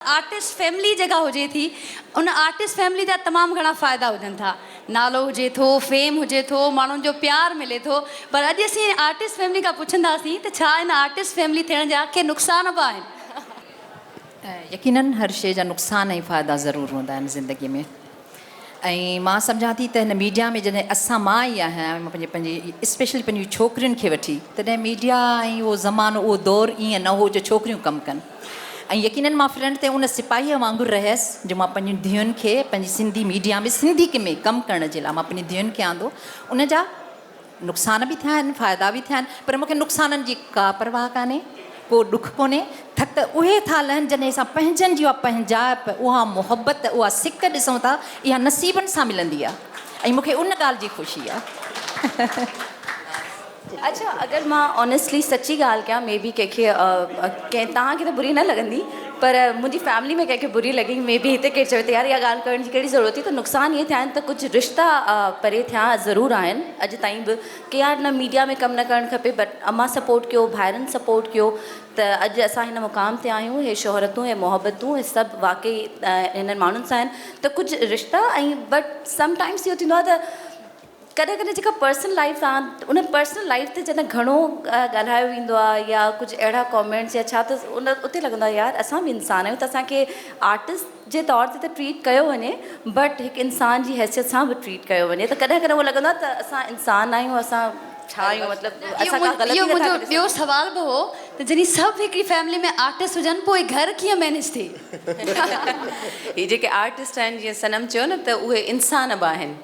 Artist family جيڪا هجي ٿي ان آرٽسٽ فيملي جا تمام گهڻا فائدا هجن ٿا نالو هجي ٿو فيم هجي ٿو ماڻهن جو پيار ملي ٿو پر اڄ اسين آرٽسٽ فيملي کان پڇنداسين ته ڇا ان آرٽسٽ فيملي ٿيڻ جا ڪي نقصان به آهن؟ يقينن هر شي جا نقصان ۽ فائدا ضرور هوندا آهن زندگي ۾. ۽ مان سمجهان ٿي ته هن ميڊيا ۾ جڏهن اسان مان ئي آهيان پنهنجي پنهنجي اسپيشلي پنهنجي ڇوڪرين کي وٺي تڏهن ميڊيا ۽ اهو زمانو اهو دور ائين نه هو جو ڇوڪريون ڪم ڪن ۽ يقينن مان فرنٽ تي ان سپاهيء وانگر رهيس جو مان پنهنجين ڌيئن کي پنهنجي سنڌي ميڊيا ۾ سنڌي ڪمي ڪم ڪرڻ جي لاء مان پنهنجين ڌيئن کي آندو ان جا نقصان به ٿيا آهن فائدا به ٿيا آهن پر مونکي نقصانن جي ڪا پرواهه ڪانهي ڪو ڏک ڪونهي ٿڪ اهي ٿا لهن جڏهن اسان پنهنجن جي اها پنهنجائپ اها محبت اها سڪ ڏسون ٿا اها نصيبن سان ملندي آهي ۽ مونکي ان ڳالهه جي خوشي آهي. اڇا اگر مان آنيسٽلي سچي ڳالهه ڪيان مي بي ڪنهن کي ڪنهن توهان کي ته بري نه لڳندي. پر منهنجي فيملي ۾ ڪنهن کي بري لڳي مي بي هتي ڪير چوي ته يار اها ڳالهه ڪرڻ جي ڪهڙي ضرورت هئي ته نقصان ائين ٿيا آهن ته ڪجهه رشتا پري ٿيا ضرور آهن اڄ تائين به ڪي يار نه ميڊيا ۾ ڪم نه ڪرڻ کپي بٽ امان سپورٽ ڪيو ڀائرن سپورٽ ڪيو ته اڄ اسان هن مقام تي آهيون هي شهرتون هي محبتون هي سڀ واقعي هنن ماڻهن سان آهن ته ڪجهه رشتا ۽ بٽ سم ٽائمس اهو ٿيندو آهي ته ڪڏهن ڪڏهن جيڪا پرسنل لائيف آهي ان پرسنل لائيف تي جڏهن گهڻو ڳالهايو ويندو آهي يا ڪجهه اهڙا ڪامينٽس يا ڇا ته ان اتي لڳندو آهي يار اسان به انسان آهيون ته اسانکي آرٽسٽ جي طور تي ته ٽريٽ ڪيو وڃي بٽ هڪ انسان جي حيثيت سان به ٽريٽ ڪيو وڃي ته ڪڏهن ڪڏهن اهو لڳندو آهي ته اسان انسان آهيون اسان ڇا آهيون مطلب اسان ڪا غلطي اهو منهنجو ٻيو سوال به هو ته جڏهن سڀ هڪڙي فيملي ۾ آرٽسٽ هجن پوء گهر ڪيئن مينيج ٿئي؟ هي جيڪي آرٽسٽ آهن جيئن صنم چيو نه ته اهي انسان به آهن.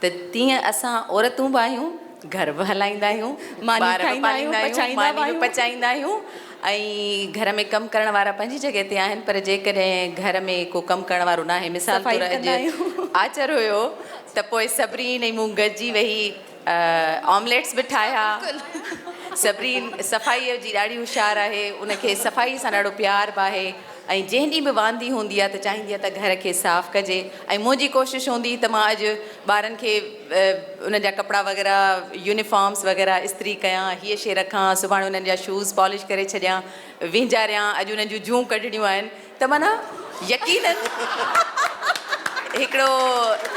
ته تيئن اسان عورتون به آهيون، گهر به هلائيندا آهيون، ٻار به پاليندا آهيون، ماني به پچائيندا آهيون ۽ گهر ۾ ڪم ڪرڻ وارا پنهنجي جڳهه تي آهن پر جيڪڏهن گهر ۾ ڪو ڪم ڪرڻ وارو ناهي مثال طور اڄ آچر هيو ته پوء صبرين ۽ مون گڏجي ويهي آمليٽس به ٺاهيا، صبرين صفائيء جي ڏاڍي هوشيار آهي، ان کي صفائيء سان ڏاڍو پيار به آهي ۽ جنهن ڏينهن به واندي هوندي آهي ته چاهيندي آهي ته گهر کي صاف ڪجي. ۽ منهنجي ڪوشش هوندي ته مان اڄ ٻارن کي انهن جا ڪپڙا وغيره يونيفارمز وغيره استري ڪيان، هيء شيء رکان، سڀاڻي انهن جا شوز پالش ڪري ڇڏيان، وينجاريان، اڄ انهن جون جون ڪڍڻيون آهن ته معنيٰ يقيناً هڪڙو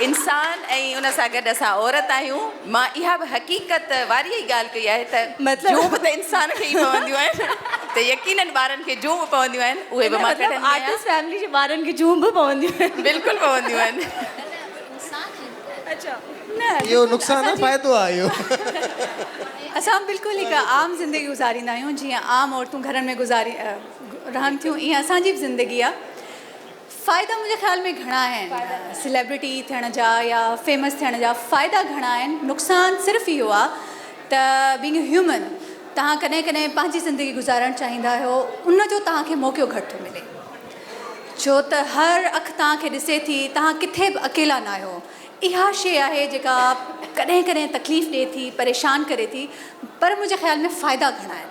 انسان ۽ ان سان گڏ اسان عورت آهيون. مان اها به حقيقت واري ئي ڳالهه ڪئي آهي ته جون به ته انسان کي ئي پونديون آهن ته يقينن ٻارن کي جون به پونديون آهن اهي به مان ڪڍندي آهيان. ان جو مطلب آرٽسٽ فيملي جي ٻارن کي جون به پونديون آهن. بلڪل پونديون آهن. اهو نقصان نه فائدو آهي اهو. اسان بلڪل هڪ عام زندگي گذاريندا آهيون جيئن عام عورتون گهرن ۾ گذاري رهن ٿيون ايئن اسان جي به زندگي آهي فائدا منهنجي خيال ۾ گهڻا آهن سليبرٽي ٿيڻ جا يا فيمس ٿيڻ جا فائدا گهڻا آهن نقصان صرف اهو آ ته بينگ اي هيومن توهان ڪڏهن ڪڏهن پنهنجي زندگي گذارڻ چاهيندا آهيو ان جو توهان کي موقعو گهٽ ٿو ملي ڇو ته هر اک توهان کي ڏسي ٿي توهان ڪٿي به اڪيلا نه آهيو اها شي آهي جيڪا ڪڏهن ڪڏهن تڪليف ڏي ٿي پريشان ڪري ٿي پر منهنجي خيال ۾ فائدا گهڻا آهن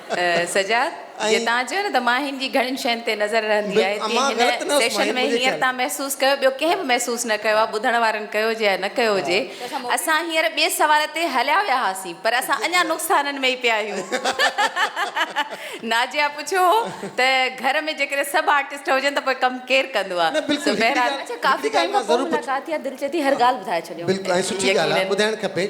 سجاد جي تان چيو نه ته مان هن جي گهڻين شين تي نظر رهندي آهي تي هن سيشن ۾ هينئر تان محسوس ڪيو ٻيو ڪنهن به محسوس نه ڪيو آهي ٻڌڻ وارن ڪيو هجي يا نه ڪيو هجي اسان هينئر ٻئي سوال تي هليا ويا هئاسين پر اسان اڃا نقصانن ۾ ئي پيا آهيون نازيا پڇيو هو ته گهر ۾ جيڪڏهن سڀ آرٽسٽ هجن ته پوء ڪم ڪير ڪندو آهي سو بهرحال اڇا ڪافي ٽائيم کان پوء ملاقات ٿي آهي دل چئي ٿي هر ڳالهه ٻڌائي ڇڏيون بلڪل ۽ سٺي ڳالهه آهي ٻڌائڻ کپي.